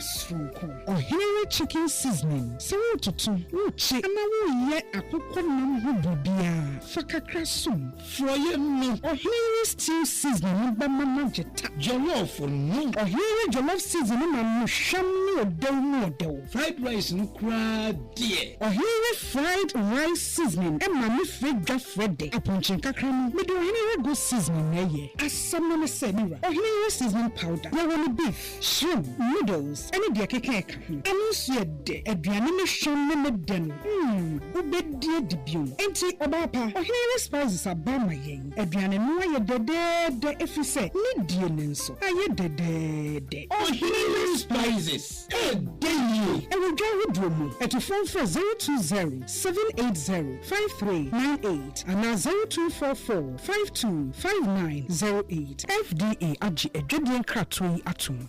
soronko. Ɔhene chicken seasoning, sɛ woretoto, wokye na woreyɛ akokɔ nam ho biribiara, fa kakra som. Forɔeɛ no. Ɔhene stew seasoning no bɛma no agye ta. Jollof no. Ɔhene jollof seasoning no ma no hwam ne ɔdɛw mu ɔdɛw. Fried rice no koraa deɛ. Ɔhene fried rice seasoning ma ne frɛ dwa frɛ dɛ. Apɔnkye nkakra no, mede ɔhene goat seasoning na ɛyɛ. Asɛm no ne sɛ, me wura, ɔhene seasoning powder, yɛwɔ no beef. Shrimp, noodles ne deɛ ɛkeka ɛka ho. Ɛno nso yɛ dɛ. Aduane ne hwam ne ne dɛ no, mm, wobɛdi adi bio. Enti, ɔbaa pa, ɔhene yere spices aba ma yɛn. Aduane no ayɛ dɛdɛɛdɛ ɛfiri sɛ ne die no nso ayɛ dɛdɛɛdɛ. Ɔhene yere spices ɛɛdɛ yie. Ɛwɔ dwa ahodoɔ mu. Atufoɔ mfrɛ zero two zero, seven eight zero, five three nine eight anaa zero two four four. Five two five nine zero eight. FDA agye adwadie nkratoɔ yi atom.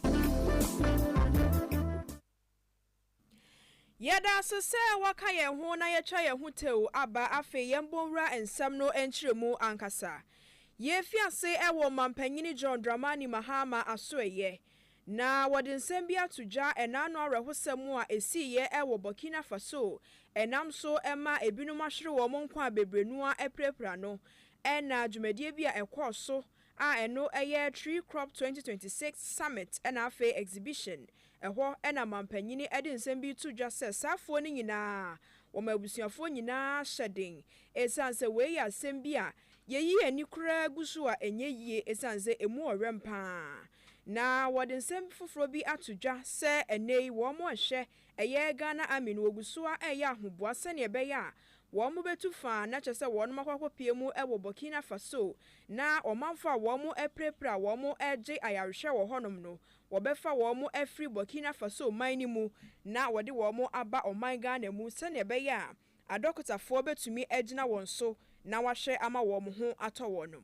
Yɛda ase sɛ woaka yɛn ho na yɛatwa yɛn ho tew aba afei yɛn bɔ nwura nsɛm no nkyerɛmu ankasa. Yɛrefi ase wɔ Ɔmampanyin John Dramani Mahama asoɛeɛ Na wɔde nsɛm bi ato dwa ɛnaano awerɛhosɛm a ɛsiiɛ wɔ Burkina Faso ɛnam so ma ɛbinom ahwere wɔn nkwa a bebree no ara apirapira no ɛna dwumadie bi a ɛkɔɔ so a ɛno yɛ Tree Crop 2026 Summit ɛna afei Exhibition ɛhɔ ɛna mampanyini ɛde nsɛm bi reto dwa sɛ saa afoɔ no nyinaa wɔma abusuafoɔ nyinaa hyɛ den ɛsiane sɛ wei yɛ asɛm bi a yɛyi yɛn ani koraa gu so a ɛnyɛ yie ɛsiane sɛ ɛmu ɔwɛm paa ara. Na wɔde nsɛm foforɔ bi ato dwa sɛ ɛnnɛ yi wɔn a ɛhwɛ ɛyɛ Ghana Army no wɔgu so ara reyɛ ahoboa sɛdeɛ ɛbɛyɛ a wɔbɛtu fa na kyerɛ sɛ wɔn akɔ akɔpue mu wɔ Burkina Faso na ɔmanfoɔ a wɔn apirapira a wɔn regye ayarehwɛ wɔ hɔnom no wɔbɛfa wɔn afiri Burkina Faso man no mu na wɔde wɔn aba ɔman Ghana mu sɛdeɛ ɛbɛyɛ a adɔkotafoɔ bɛtumi agyina wɔn so na wɔahwɛ ama wɔn ho atɔ wɔnom.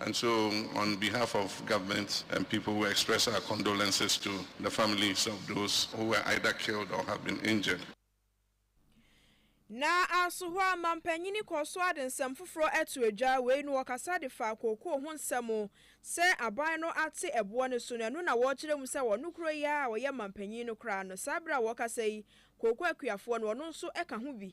And so on behalf of government and people we express our condolences to the families of those who were either killed or have been injured. Na asohwɛ a manpanyini kɔ so ade nsɛm foforɔ ato adwa wei no ɔkasa de faa kookoo ho nsɛm sɛ aban no ate ɛboɔ no so na ɛno na wɔrekyerɛ mu sɛ wɔno koro yi ara a ɔyɛ manpanyin no koraa no saa bere a wɔrekasa yi kookoo akuafoɔ no ɔno nso ka ho bi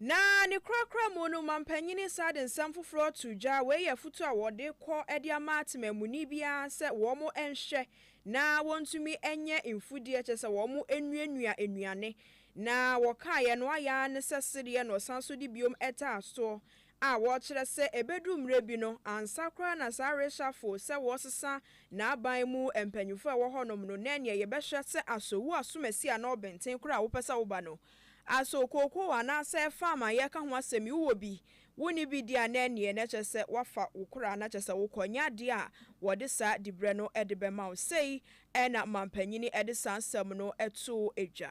Na ne korakora mu no, mampanyin nsa de nsɛm foforɔ too dwa. Wei yɛ afotuo a wɔde kɔ de ama temamuni biara sɛ wɔn nhwɛ na wɔntumi nyɛ mfudeɛ, kyerɛ sɛ wɔn nnuanua nnuane. Na wɔkaaeɛ no ayɛ ara ne sɛ sereɛ na ɔsan nso de biom taa soɔ. a wɔkyerɛ sɛ ebedu mmere bi no, ansa koraa na saa reshuffle sɛ wɔresesa n'aban mu mpanyimfo a ɛwɔ hɔnom no, na ɛneɛ yɛbɛhwɛ sɛ aso wo asomasi anaa ɔbenten koraa a wopɛ sɛ woba no, aso kookoo anaasɛ farm a yɛreka ho asɛm yi wowɔ bi, wonni bi deɛ a na ɛneɛ na kyerɛ sɛ woafa wo koraa na kyerɛ sɛ wokɔ, ɛnyɛ adeɛ a wɔde saa diberɛ no de bɛma wo. Sei na manpanyini de saa nsɛm no too dwa.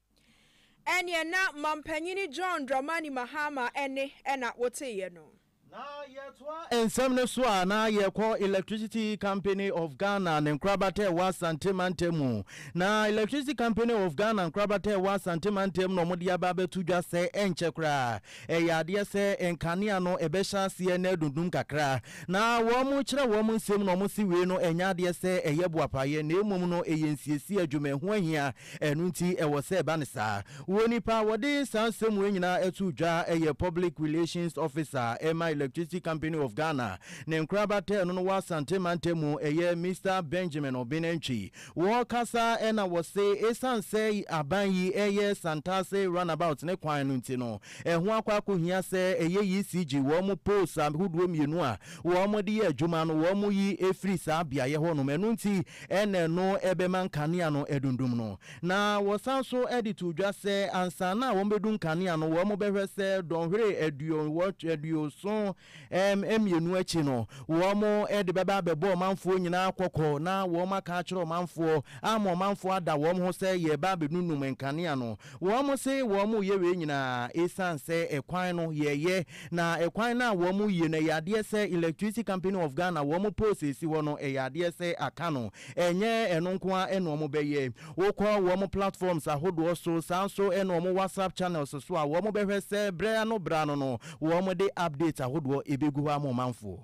Ɛnneɛ na Mampanyini John Dramani Mahama ɛnne na woteeɛ no. Na yɛtoa nsɛm no so a, na yɛkɔ Electricity Company of Ghana ne nkorabata a ɛwɔ Asante mantam mu. Na Electricity Company of Ghana nkorabata a ɛwɔ Asante mantam na wɔde aba abɛto dwa sɛ ɛnkyɛ koraa ɛyɛ adeɛ sɛ nkanea no ɛbɛhyɛ aseɛ na adundum kakra. Na wɔkyerɛ wɔn nsɛm mu na wɔse wei no ɛnyɛ adeɛ sɛ ɛyɛ boapayɛ na mmom no ɛyɛ nsiesie adwuma ɛho ahia Ɛno nti ɛwɔ sɛ ɛba no saa. Wɔ nipa a wɔde saa nsɛm wei nyinaa too dwa yɛ Public Relations Officer ma Electricity Company of Ghana. Ne nkorabatɛɛ no no wɔ Asante Mantamu, ɛyɛ Mister Benjamin Obenantwi. Wɔkasa na wɔse ɛsiane sɛ aban yi reyɛ Santase Runabout ne kwan no nti no, ɛho akɔ akɔhia sɛ ɛyɛ ECG, wɔn poles ahodoɔ mmienu a wɔde yɛ adwuma no, wɔyi firi saa beaeɛ hɔnom. Ɛno nti na ɛno bɛma nkanea no adundum no. Na wɔsan nso de too dwa sɛ ansa na wɔbɛdu nkanea no, wɔbɛhwɛ sɛ dɔnhwere aduoson mmienu akyi no, wɔde bɛba abɛbɔ ɔmanfoɔ nyinaa kɔkɔ na wɔaka akyerɛ ɔmanfoɔ ama ɔmanfoɔ ada wɔn ho sɛ yɛreba abɛdundum nkanea no. Wɔse wɔreyɛ wei nyinaa ɛsiane sɛ ɛkwan no yɛyɛ Na ɛkwan no a wɔn mo yie no ɛyɛ adeɛ sɛ electricity company of Ghana wɔn mo poles ɛsi hɔ no ɛyɛ adeɛ sɛ aka no ɛnyɛ ɛno nko ara ɛna wɔn bɛyɛ wo kɔ wɔn mo platforms ahodoɔ so saa nso ɛna wɔn WhatsApp channels so a wɔn bɛhwɛ sɛ berɛ ano berɛ ano no wɔn de updates ahodoɔ ɛbɛgu hɔ ama ɔmanfoɔ.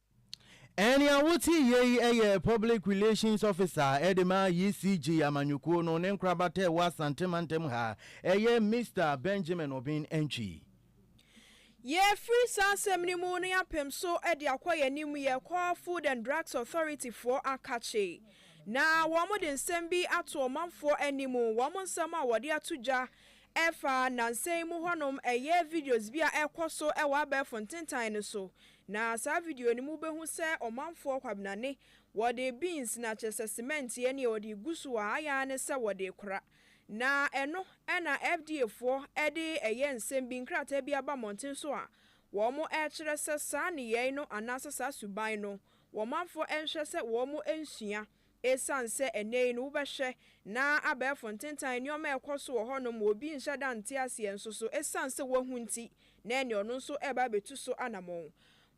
Nea wote yɛ yi yɛ Public Relations Officer de ma ECG amanyɔkuo no ne nkorabata a ɛwɔ Asante mantam ha, ɛyɛ Mister Benjamin Obeng Antwi. Yɛrefiri saa asɛm no mu no yɛapem so de akɔ yɛn anim yɛrekɔ Food and Drugs Authority foɔ akakye na wɔde nsɛm bi ato ɔmanfoɔ anim, wɔn nsɛm a wɔde ato dwa ɛfa nnansa yi mu hɔnom, ɛyɛ videos bi a ɛrekɔ so wɔ abɛɛfo ntentan no so Na saa video no mu wobɛhu sɛ ɔmanfoɔ kwabenane wɔde beans na kyerɛ sɛ cement yɛ neɛ wɔde gu so a ayɛ ara ne sɛ wɔde kora. Na ɛno na FDA foɔ de ɛyɛ nsɛm bi nkrataa bi aba mmɔnten so a wɔn ɛrekyerɛ sɛ saa nneyɛe no anaasɛ saa suban no wɔmanfoɔ nhwɛ sɛ wɔn nsua Esiane sɛ ɛnnɛyi no wobɛhwɛ na abɛɛfo ntentan nneɛma a ɛkɔ so wɔ hɔnom ma obi nhyɛ da nte aseɛ nso so esiane sɛ wahu nti na ɛnneɛ ɔno nso reba abɛtu so anamɔn.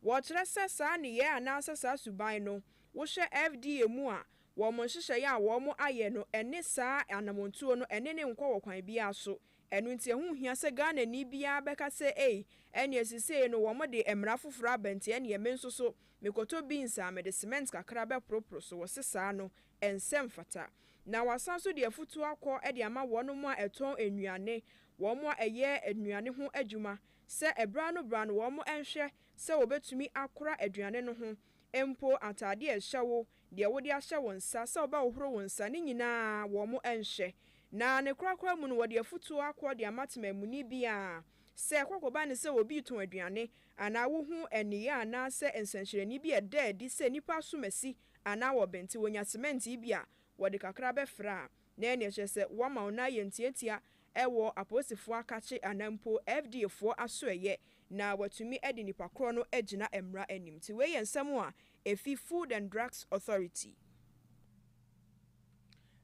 Wɔkyerɛ sɛ saa nneyɛɛ anaasɛ saa suban no wohwɛ FDA mu a wɔn nhyehyɛeɛ a wɔn ayɛ no ɛne saa anamɔntuo no ɛne no nkɔ wɔ kwan biara so ɛno nti ɛho nhia sɛ Ghanani biara bɛka sɛ ei ɛnneɛ sesei no wɔn de mmara foforɔ aba nti ɛnneɛ me nso so Mekɔtɔ beans a mede cement kakra bɛporoporo so wɔse saa no ɛnsɛ mfata. Na wɔasan nso de afutuo akɔ de ama wɔnom a ɛtɔn nnuane, wɔnom a ɛyɛ nnuane ho adwuma sɛ ɛberɛ ano berɛ ano wɔnom nhwɛ sɛ wɔbɛtumi akora aduane no ho mpo ataadeɛ a ɛhyɛ wo, deɛ wode ahyɛ wo nsa, sɛ wobɛhohoro wo nsa, ne nyinaa wɔnom nhwɛ. Na ne korakora mu no wɔde afutuo akɔ de ama temamuni bi a Sɛ kɔkɔ ba no sɛ obi retɔn aduane, anaa wohu nneyɛe anaasɛ nsɛnkyerɛnne bi a ɛda adi sɛ nnipa asom asi anaa wɔbɛn nti wonya semɛnt bi a wɔde kakra bɛfra a, na ɛnneɛ kyerɛ sɛ wɔama wo nan ayɛ ntiantia wɔ apolisifoɔ akakye anaa mpo FDA foɔ asoɛeɛ na wɔatumi de nipa korɔ no agyina mmara anim. Nti wei yɛ nsɛm a ɛfi Food and Drugs Authority.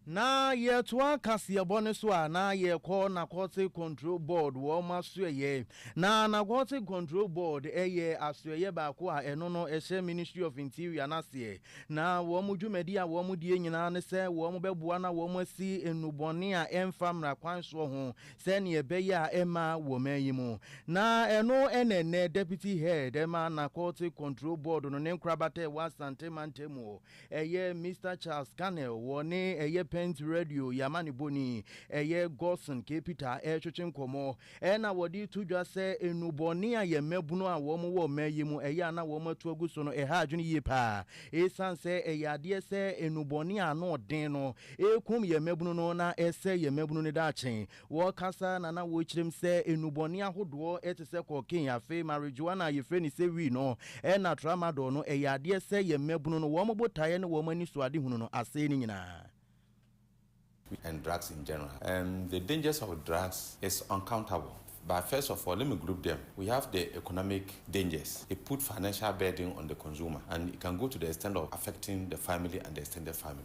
Na yɛtoa kaseɛbɔ no so a na yɛkɔ Narcotic Control Board wɔn asoɛyɛ. Na Narcotic Control Board yɛ asoɛyɛ baako a ɛno no ɛhyɛ Ministry of Interior no aseɛ. Na wɔn dwumadi a wɔn die nyinaa ne sɛ wɔn bɛboa na wɔn asi nnubɔne a ɛmfa mmara kwan soɔ ho sɛdeɛ ɛbɛyɛ a ɛmma wɔ man yi mu. Na ɛno na ɛnnɛ Deputy Head ma Narcotic Control Board no ne nkorabata a ɛwɔ Asante mantam wɔ Ɛyɛ Mister Charles Carnell wɔ ne ɛyɛ Pent Radio yɛ amanebɔ ni, ɛyɛ Godson K. Peter ɛretwetwe nkɔmmɔ ɛna wɔde to dwa sɛ nnubɔne a yɛn mmabunu a wɔn wɔ mmaa yi mu ɛyɛ a na wɔn atu agu so no ɛha adwene yie paa ɛsiane sɛ ɛyɛ adeɛ sɛ nnubɔne a ano ɔden no ɛrekum yɛn mmabunu no na ɛsɛe yɛn mmabunu no daakye. Wɔrekasa na na wɔrekyerɛm sɛ nnubɔne ahodoɔ te sɛ cocaine, afei marijuana a yɛfrɛ no sɛ weed no, ɛna tramadol no, ɛyɛ adeɛ sɛ yɛn mmabunu no, wɔn botaeɛ ne wɔn anisoadehunu no, asɛe ne nyinaa. Weed and drugs in general, um, the dangers of drugs is uncountable, but first of all let me group them, we have the economic dangers, it put financial burden on the consumer and it can go to the extent of affecting the family and the extended family.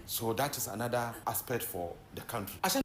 So that is another aspect for the country ahyɛ.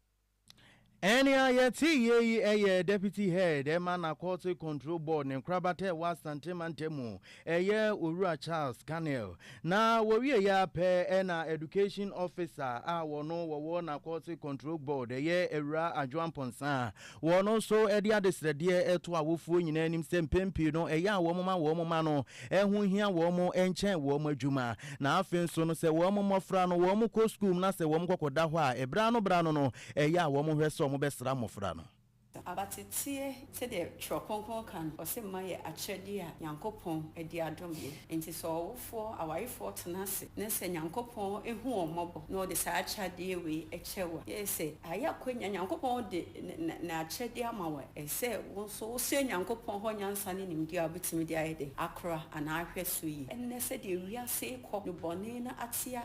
Ɛnea yɛteeɛ yi yɛ Deputy Head ma Narcotic Control Board ne nkorabata a ɛwɔ Asante Mantam mu, ɛyɛ Owura Charles Carnell. Na wɔwieeɛ ara pɛ na Education Officer a wɔno wɔwɔ Narcotic Control Board, ɛyɛ Awuraa Adwoa Mponsah, Wɔn nso de adesrɛdeɛ to awofoɔ nyinaa anim sɛ mpɛn pii no ɛyɛ a wɔma wɔn mma no ho hia wɔn nkyɛn wɔn adwuma. Na afei nso no sɛ wɔn mmɔfra no wɔkɔ sukuu mu na sɛ wɔkɔkɔda hɔ a, berɛ ano berɛ ano no ɛyɛ a wɔhwɛ sɛ wɔbɛsra mmɔfra no. Abateteɛ, sɛdeɛ Twerɛ Kronkron ka no, ɔse mma yɛ akyɛdeɛ a Nyankopɔn de adom yɛ. Enti sɛ ɔwofo. Awarefoɔ, awarefoɔ tena ase na sɛ Nyankopɔn hu wɔn mmɔbɔ na ɔde saa akyadeɛ wei kyɛ wo a, gye sɛ ayɛ akwanya, Nyankopɔn de N'akyɛdeɛ ama wo a, ɛsɛ sɛ wo nso wosrɛ Nyankopɔn hɔ nyansa ne nimdeɛ a wobɛtumi de ayɛ dɛn? Akora anaa ahwɛ so yie. Ɛnnɛ sɛdeɛ wiase rekɔ no bɔne no atea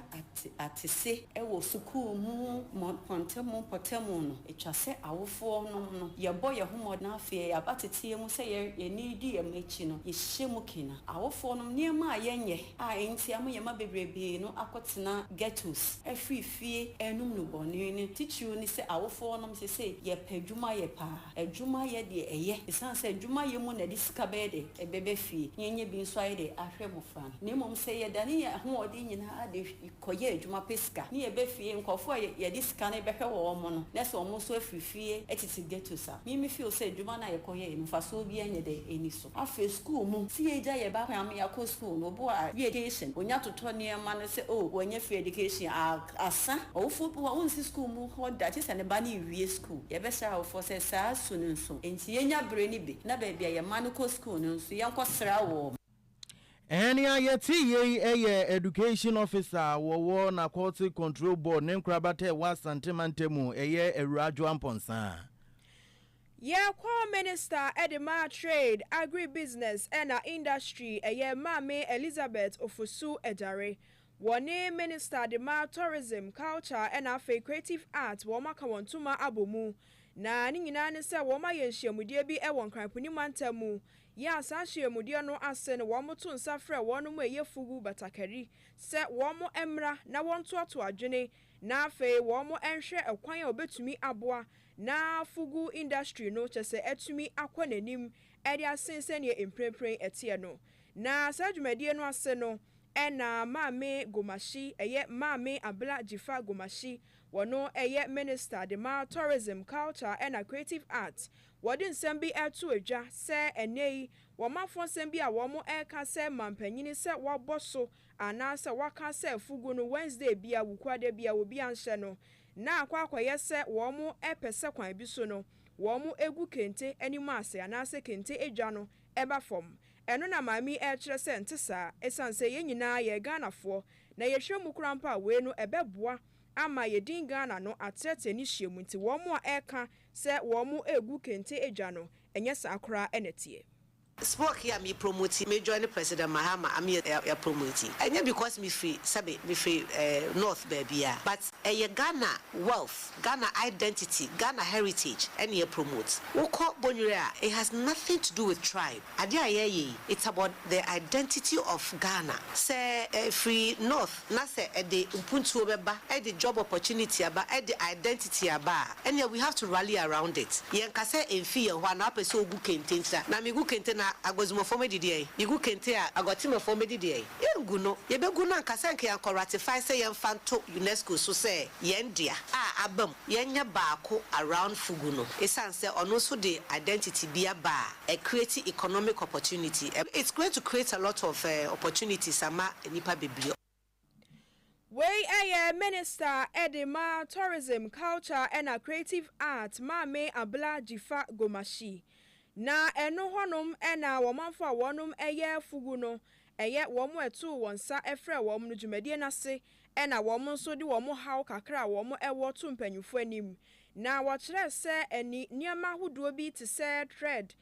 atese wɔ sukuu mu mpɔntam mpɔtam no, etwa sɛ awofoɔ nom no yɛbɔ yɛn ho mmɔden afei yɛaba teteɛ mu sɛ yɛn yɛn ani redi yɛn mma akyi no yɛhyehyɛ mu kena. Awofoɔ nom nneɛma a yɛnyɛ a enti ama yɛn mma bebrebee no akɔtena ghettos afiri fie renom nnubɔne no titiriw ne sɛ awofoɔ nom sesei yɛpɛ adwuma yɛ paa. Adwuma yɛ deɛ ɛyɛ esiane sɛ adwuma yɛ mu na yɛde sika bɛyɛ dɛ ɛbɛba fie na yɛnyɛ bi nso ayɛ dɛ ahwɛ mmofra. Na mmom sɛ yɛdane yɛn ahoɔden nyinaa de kɔyɛ adwuma pɛ sika, ne yɛba fie, nkurɔfo a yɛde sika no bɛhwɛ wɔn no, na sɛ wɔn nso afi fie tete ghettos a, me mefeel sɛ adwuma no a yɛkɔyɛe no, mfasoɔ biara nyɛ dɛ nni so. Afei sukuu mu, sɛ yɛgya yɛn ba koraa ma yɛakɔ sukuu no, obu a ɔyɛ education, ɔnya totɔ nneɛma no sɛ oh, wanya free education a, asa. Ɔwofoɔ bi wɔ hɔ a, ɔrensi sukuu mu hɔ da, gye sɛ ne ba no rewie sukuu. Yɛbɛsrɛ awofoɔ sɛ saa su no nso, enti yɛnya bere no bi, na baabi a yɛn mma no kɔ sukuu no nso, yɛnkɔsra wɔn. Nea yɛte yei yɛ Education Officer a wɔwɔ Narcotic Control Board ne nkorabata a ɛwɔ Asante Mantamu, ɛyɛ Awuraa Joa Mponsah. Yɛkɔ Minister de ma Trade, Agribusiness ɛna Industry, ɛyɛ Maame Elizabeth Ofosu Adjare. Wɔne Minister de ma Tourism, Culture ɛna afei Creative Arts wɔaka wɔn ntoma abɔ mu. Na ne nyinaa ne sɛ wɔayɛ nhyiamudeɛ bi wɔ Nkran Puni Mantam mu Yɛ a saa hyerɛmudeɛ no ase no wɔto nsa frɛ wɔn mu ɛyɛ fugu batakari sɛ wɔn mmra na wɔntoatoa adwene na afei wɔn nhwɛ ɛkwan a wɔbɛtumi aboa na fugu industry no kyɛ sɛ atumi akɔ n'anim de asen sɛdeɛ mprempren ɛteɛ no. Na saa dwumadie no ase no ɛna Maame Gomashi, ɛyɛ Maame Abla Jifa Gomashi, wɔno ɛyɛ Minister de ma Tourism, Culture ɛna Creative Arts Wɔde nsɛm bi reto adwa sɛ ɛnnɛyi wɔma fɔnsɛm bi a wɔreka sɛ mampanin sɛ wabɔ so anaasɛ waka sɛ fugu no Wednesday bia, Wukuada bia, obi anhyɛ no na akɔ akɔyɛ sɛ wɔpɛ sɛ kwan bi so no wɔgu kente anim ase anaasɛ kente adwa no ba fam. Ɛno na maame yi rekyerɛ sɛ ɛnte saa. Esiane sɛ yɛn nyinaa yɛ Ghanafoɔ na yɛhwɛ mu koraa mpo a wei no ɛbɛboa ama yɛn din Ghana no atrɛtrɛ ne hyia mu nti wɔn a ɛreka Sɛ wɔregu kente adwa no, ɛnyɛ saa koraa na ɛteɛ. Smoke ya me promote yi me join president mahama am ya promote yi ɛnyɛ because me firi sɛbe me firi eh north baabia but ɛyɛ Ghana wealth Ghana identity Ghana heritage ɛne ya promote wokɔ bonyere a it has nothing to do with tribe. Adeɛ a yɛreyɛ yi it's about the identity of Ghana. Sɛ ɛfiri North na sɛ ɛde mpuntuo bɛba, ɛde job opportunity aba, ɛde identity aba a, ɛnneɛ we have to rally around it. Yɛnka sɛ ɛmfiri yɛn hɔ a na wopɛ sɛ wogu kente nti na, na megu kente na Aguazumafoɔ mɛdi deɛn? Megu kente a Aguatemefoɔ mɛdi deɛn? Yɛngu no. Yɛbɛgu no anka sɛ anka yɛankɔ ratify sɛ yɛmfa nto UNESCO so sɛ yɛn dea a abam. yɛnyɛ baako around Fugu no esiane sɛ ɔno nso de identity bi aba a ɛ create economic opportunity, ɛ it's going to create a lot of eh opportunities ama nnipa bebree. Wei yɛ Minister de ma Tourism, Culture ɛna Creative Art Maame Abla Jifa Gomashi. Na ɛno hɔnom na wɔmanfo a wɔnom yɛ Fugu no ɛyɛ wɔn a ɛtoo wɔn nsa frɛɛ wɔn no dwumadie no ase na wɔn nso de wɔn haw kakra a wɔn wɔ to mpanyimfoɔ anim na wɔkyerɛɛ sɛ ani nneɛma ahodoɔ bi te sɛ thread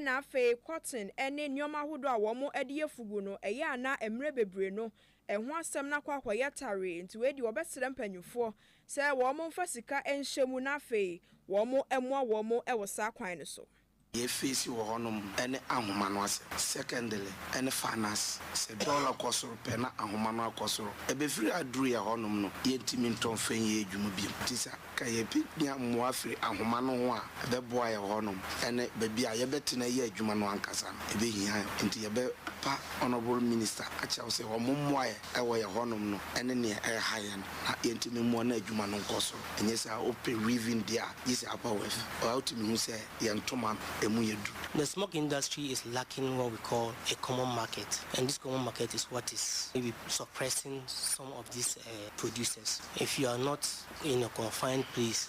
na afei cotton ne nneɛma ahodoɔ a wɔn de yɛ fugu no ɛyɛ a na mmerɛ bebree no ɛho asɛm no akɔ akɔyɛ tare nti wei deɛ wɔbɛsrɛ mpanyimfoɔ sɛ wɔn mfa sika nhyɛ mu na afei wɔn mmoa wɔn wɔ saa kwan no so. Deɛ efeesi wɔ hɔnom ne ahoma no ase, secondly, ne finance. Sɛ dɔla kɔ soro pɛ na ahoma no akɔ soro. Ɛbɛfiri aduru yɛ hɔnom no, yɛntumi ntɔ mfa nyɛ adwuma bio. Nti sɛ anka yɛbɛnya mmoa firi ahoma no ho a, ɛbɛboa yɛ hɔnom ne baabi a yɛbɛtena ayɛ adwuma no ankasa no, ɛbɛhia yɛ. Nti yɛbɛpa Honourable Minister akyerɛ wo sɛ wɔmmoa yɛ. ɛwɔ yɛn hɔnom no ne nea ɛreha yɛn na yɛntumi mmoa na adwuma no nkɔ so. Ɛnyɛ saa? Wopɛ weaving deɛ a, gye sɛ apa weave. Ɔa wotumi hu sɛ yɛn ntoma no, ɛmu yɛ duru. The smock industry is lacking what we call a common market and this common market is what is maybe suppressing some of these producers. If you are not in a confined place,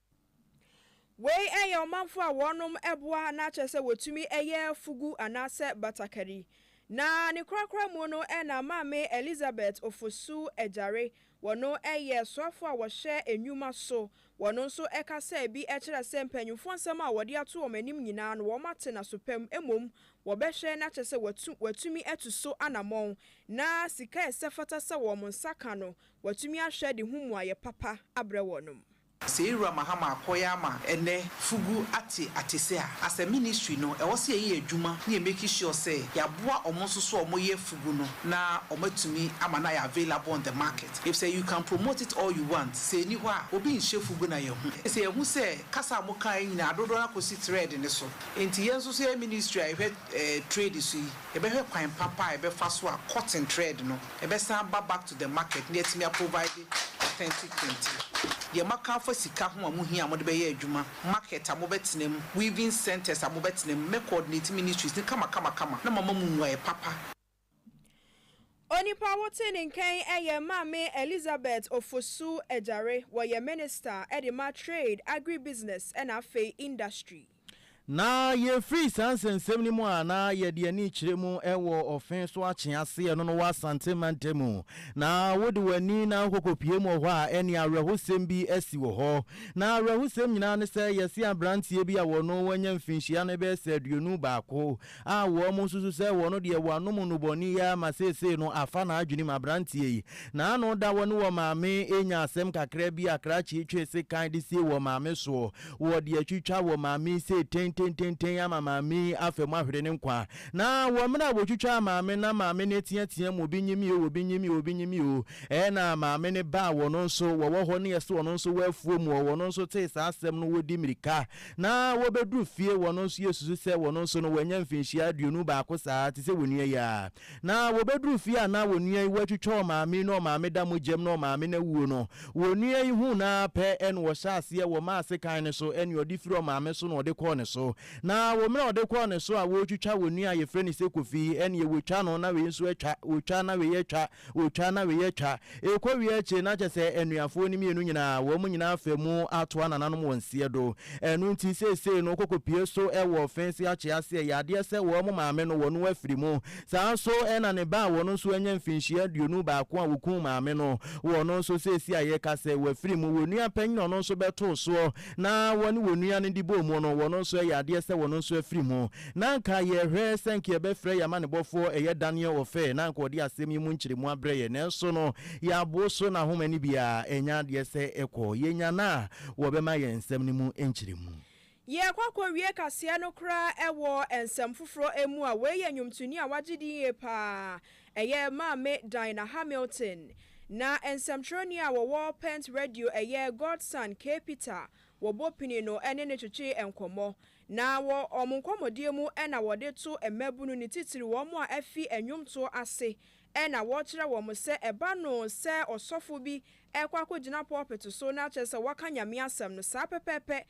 Wei yɛ ɔmanfo a wɔnom ɛboa na kyerɛ sɛ wɔtumi yɛ fugu anaasɛ batakari. Na ne korakora mu no na Maame Elizabeth Ofosu Agyare, wɔno yɛ soafo a wɔhwɛ nnwuma so, wɔno nso ka sɛ bi kyerɛ sɛ mpanyimfoɔ nsɛm a wɔde ato wɔn anim nyinaa no wɔate n'aso pa mu mmom wɔbɛhwɛ na kyerɛ sɛ wɔatu wɔatumi atu so anamɔn na sika a ɛsɛ fata sɛ wɔn nsa ka no wɔatumi ahwɛ de ho mmuaeɛ papa abrɛ wɔnom. Sɛ yɛwura Mahama akɔeɛ ama ɛnnɛ fugu ate atese a, as a ministry no ɛwɔ sɛ yɛyɛ yɛn adwuma na yɛ make sure sɛ yɛaboa wɔn nso so a wɔyɛ fugu no na wɔn atumi ama no ayɛ available on the market efisɛ you can promote it all you want sɛ ɛnni hɔ a obi nhyɛ fugu na yɛahu sɛ yɛahu sɛ kasa a mokaeɛ nyinaa dodoɔ no ara kɔsi thread no so enti yɛn nso so yɛyɛ ministry a yɛhwɛ eh trade so yi yɛbɛhwɛ kwan papa a yɛbɛfa so a cotton thread no ɛbɛsan aba back to the market na yɛatumi a provide authentic kente. Deɛ moaka afa sika ho a mohia a mode bɛyɛ adwuma, market a mobɛtena mu, weaving centres a mobɛtena mu, mɛ coordinate ministries no kamakamakama na mama mo mmuaeɛ papa. Onipa wote ne nkan yɛ Maame Elizabeth Ofosu Agyare, wɔyɛ Minister de ma Trade, Agribusiness na afei Industry. Na yɛfiri saa nsɛnsɛm no mu a na yɛde ani kyerɛ mu wɔ ɔfe so akye ase ɛno no wɔ Asante mantam mu. Na wode w'ani na wokɔkɔpue mu wɔ hɔ a, ɛnneɛ awerɛhosɛm bi asi wɔ hɔ. Na awerɛhosɛm nyinaa ne sɛ yɛse aberanteɛ bi a ɔno wanya mfinhyia no bɛyɛ sɛ aduonu baako a wɔsusu sɛ wɔn deɛ wɔanom nnubɔne yi ara ma seesei no afa n'adwenem. Aberanteɛ yi, n'ano da hɔ ne wɔn maame renya asɛm kakra bi a krakye twe sekan de sie wɔn maame soɔ. Wɔde atwitwa wɔn maame yi sei tentententen ama maame yi afa mu ahwere ne nkwa. Na wɔ mmerɛ a wɔtwitwaa maame no, na maame no reteatea mu, obi nye me o, obi nye me o, obi nye me o. Ɛna maame no ba a wɔn nso wɔwɔ hɔ ne yɛse wɔn nso wɔ afuo mu hɔ, wɔn nso tee saa asɛm no, wɔdi mmirika Na wɔbɛduru fie, wɔn nso yɛsusu sɛ wɔn nso no wɔanya mfinhyia aduonu baako saa, te sɛ onua yi ara. Na wɔbɛduru fie a na onua yi watwitwa ɔmaame yi na ɔmaame da mogyam na ɔmaame no awuo no, onua yi huu no ara pɛ na ɔhyɛɛ aseɛ, wɔmaa sekan no so na ɔde firi ɔmaame so na ɔde kɔɔ ne so. Na wɔ mmerɛ a ɔde kɔɔ ne so a wɔretwitwa onua a yɛfrɛ no sɛ Kofi na wɔtwa no na wei nso atwa, wɔtwa na wei atwa, Wotwa na weyɛ twa. Ekɔ wie akyire na kyɛ sɛ anuafoɔ no mmienu nyinaa, wɔn nyinaa afa mu atoa nananom wɔn seɛ do. Ɛno nti seesei no kɔkɔpue so wɔ ɔfense akye ase. Ɛyɛ adeɛ sɛ wɔn maame no, wɔn afiri mu. Saa ara nso na ne ba a ɔno nso anya mfinhyia aduonu baako a wɔkum maame no, ɔno nso seesei a yɛrekasa yi, wafiri mu. Wɔn nua panin a ɔno nso bɛtoo soɔ na ɔne wɔn nua no de bɔɔ mu no, ɔno nso ɛyɛ adeɛ sɛ ɔno nso afiri mu. Na anka yɛhwɛ sɛ anka yɛbɛfrɛ yɛn amanebɔfoɔ ɛyɛ Daniel Ofei na anka ɔde asɛm yi mu nkyeremu abrɛ yɛn, nanso no yɛabo so na ahoma no bi ara ɛnyɛ adeɛ sɛ ɛkɔ. Yɛnya no a, wɔbɛma yɛn nsɛm no mu nkyeremu. Yɛrekɔ akɔwie kaseɛ no koraa wɔ nsɛm foforɔ mu a, wei yɛ nnwomtoni a wagye din yie pa ara, ɛyɛ Maame Dinah Hamilton. Na nsɛmtwerɛni a wɔwɔ Pent Radio ɛyɛ Godson K. Peter wɔbɔ pini no ne no twetwee nkɔmmɔ. Na wɔ wɔn nkɔmmɔdie mu na wɔde to mmabunu ne titiriw wɔn a afi nnwomtoɔ ase na wɔkyerɛ wɔn sɛ ɛba no sɛ ɔsɔfo bi rekɔ akɔgyina pulpit so na kyerɛ sɛ waka Nyame asɛm no saa pɛpɛɛpɛ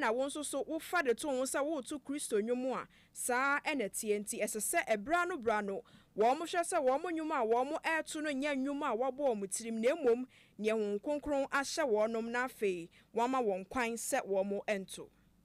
na wo nso so wofa de to wo ho sɛ woreto Kristo nnwom a saa na ɛteɛ nti ɛsɛ sɛ berɛ ano berɛ ano wɔhwɛ sɛ wɔn nnwom a wɔreto no nyɛ nnwom a wɔabɔ wɔn tirim na mmom neɛ Honhom Kronkron ahyɛ wɔnom na afei wɔama wɔn kwan sɛ wɔnto.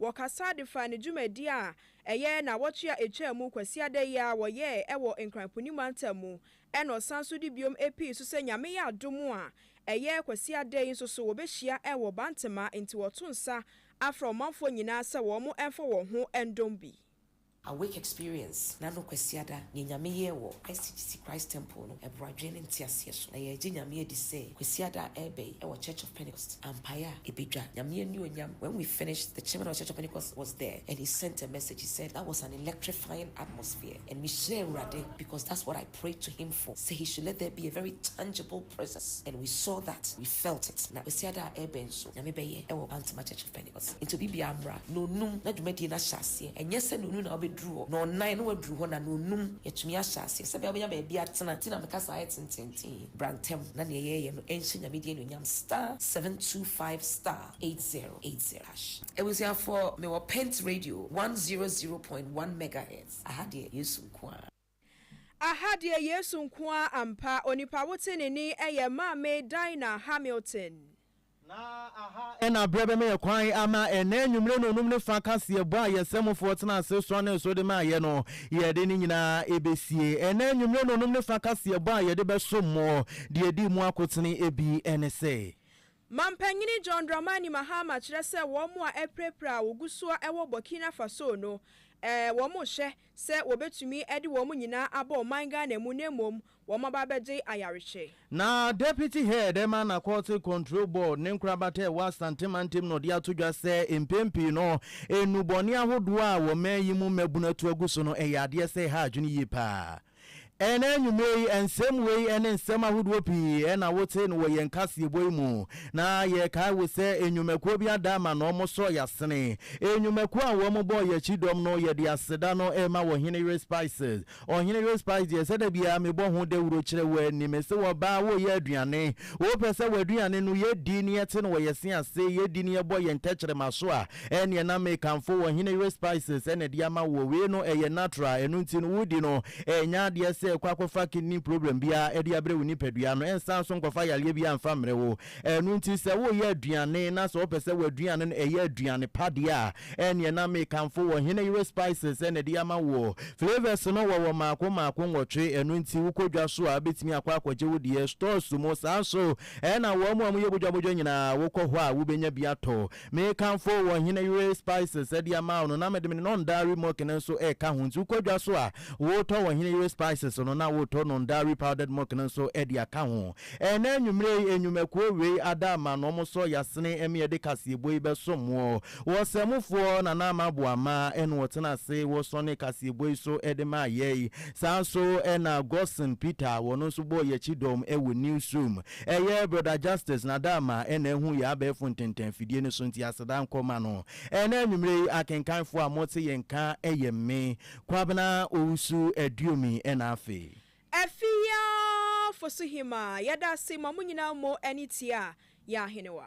Wɔkasa de faa ne dwumadi a ɛyɛ naawɔtwe a etwaa mu Kwasiada yi ara wɔyɛe wɔ Nkran Poni Mantam mu na ɔsan so de biom pii so sɛ Nyame yɛ adom a ɛyɛ Kwasiada yi nso so wɔbɛhyia wɔ Bantama nti wɔto nsa afrɛ ɔmanfoɔ nyinaa sɛ wɔn mfa wɔn ho ndom bi. Awake! Experience na no Kwasiada nea Nyame yɛɛ wɔ SCGC Christ Temple no ɛboro adwene ne nteaseɛ so na yɛregye Nyame adi sɛ Kwasiada a ɛreba yi wɔ Church of Pentecost ampaeɛ a ɛbɛdwa Nyame anuonyam When we finished, the Chairman of the Church of Pentecost was there and he sent a message, he said that was an electrifying atmosphere and mehyira Awurade because that's what I. pray to him for sɛ he should let there be a very tangible presence and we saw that, we felt it na Kwasiada a ɛrebɛn nso Nyame bɛyɛ ɛwɔ Pantema Church of Pentecost nti obibiara mmra Nonum na dwumadie no ahyɛ aseɛ ɛnyɛ sɛ Nonum na wobɛduru hɔ Nɔnnan na waduru hɔ na Nonum yɛatumi ahyɛ aseɛ sɛbɛa wobɛnya baabi atena nti na meka saa yɛ tenteenten bra ntɛm na neɛ yɛreyɛ no ɛnhyɛ Nyame din anuonyam star seven two five star eight zero eight zero hash. Abusuafoɔ mewɔ Pent Radio one zero zero point one megahertz aha deɛ Yesu nkoaa. Aha deɛ Yesu nko ara ampa, onipa wo tenenee ɛyɛ Maame Dinah Hamilton. Na aha ɛna berɛ bɛma yɛ kwan ama ɛnnɛ anwummere no nnum ne fa kaseɛbɔ a yɛ Sɛmofoɔ tena ase suanee so de maa yɛ no. Yɛde ne nyinaa ɛbɛsie. Ɛnnɛ anwummere no nnum ne fa kaseɛbɔ a yɛde bɛsom mo deɛ ɛdi mu akotene bi ne sɛ. Mampanyini John Dramani Mahama kyerɛ sɛ wɔn a apirapira a wɔgu so a ɛwɔ Burkina Faso no, ɛɛ, wɔnhyɛ sɛ wɔbɛtumi de wɔn nyinaa abɔ ɔman Ghana mu na mmom wɔaba abɛgye ayarehwɛ. Na Deputy Head ma Narcotic Control Board ne nkorabata a ɛwɔ Asante mantam na ɔde ato dwa sɛ mpɛn pii no nnubɔne ahodoɔ a wɔ man yi mu mmabunu atu agu so no yɛ adeɛ sɛ ɛha adwene yie pa ara. Ɛnnɛ anwummere yi, nsɛm wei ne nsɛm ahodoɔ pii na wote no wɔ yɛn kaseɛbɔ yi mu, na yɛkae wo sɛ nnwumakuo bi ada ama na wɔsɔ yɛn asene. Nnwumakuo a wɔbɔɔ yɛn akyi dɔm no, yɛde aseda no rema Ɔhene Yere Spices. Ɔhene Yere Spice deɛ, ɛsɛ da biara mebɔ ho dawuro kyerɛ wo ani. Mese wo, ɔbaa, woreyɛ aduane, wopɛ sɛ w'aduane no yɛdi na yɛte no wɔ yɛn se ase, yɛdi na yɛbɔ yɛn tɛkyerɛma so a, ɛneɛ na mekamfo wɔ hene yere spices ɛna ɛde ama woɔ wei no ɛyɛ natural ɛno nti no wodi no ɛnyɛ adeɛ sɛ kɔ akɔfa kidney problem biara ɛde abrɛ wo nipadua no ɛnsan nso nkɔfa yareɛ biara mfa mmerɛ wo ɛno nti sɛ woyɛ aduane na sɛ wopɛ sɛ w'aduane no ɛyɛ aduane pa deɛ a ɛneɛ na mekamfo wɔ hene yere spices ɛna ɛde ama woɔ flavours no wɔwɔ mmaako mmaako nwɔtwe ɛno nti wokɔ dwa so a bɛtumi akɔ akɔgye wo deɛ stores mu saa nso ɛna wɔn a wɔyɛ bodwabodwa nyinaa wokɔ hɔ a wobɛnya bi atɔ Mekamfo wo ɔhene yere spices de ama wo no, na mede me nondari milk no nso reka ho. Nti wokɔ dwa so a, wotɔ w'ɔhene yere spices no, na wotɔ nondari powdered milk no nso de aka ho. Ɛnnɛ anwummere yi, nnwumakuo wei ada ama na wɔsɔ Yasini ma yɛde kaseɛbɔ yi bɛsom wo. Ɔsɛmufoɔ Nana Amarbu Amah na ɔtena ase wɔ sɔne kaseɛbɔ yi so de maa yɛn. Saa nso na Godson Peter, ɔno nso bɔɔ yɛn kyidɔm wɔ Newsroom. Ɛyɛ Brother Justice Nadama na ahu yɛn abɛɛfo ntɛntɛn afidie no so nti aseda nkɔ ma no. Ɛnnɛ anwumerɛ yi akenkanfoɔ a mote yɛn nka yɛ me, Kwabena Owusu Aduomi na afei. Afiafosohemaa. Yɛda ase ma mo nyinaa mo ani tia yɛn Ahenewa.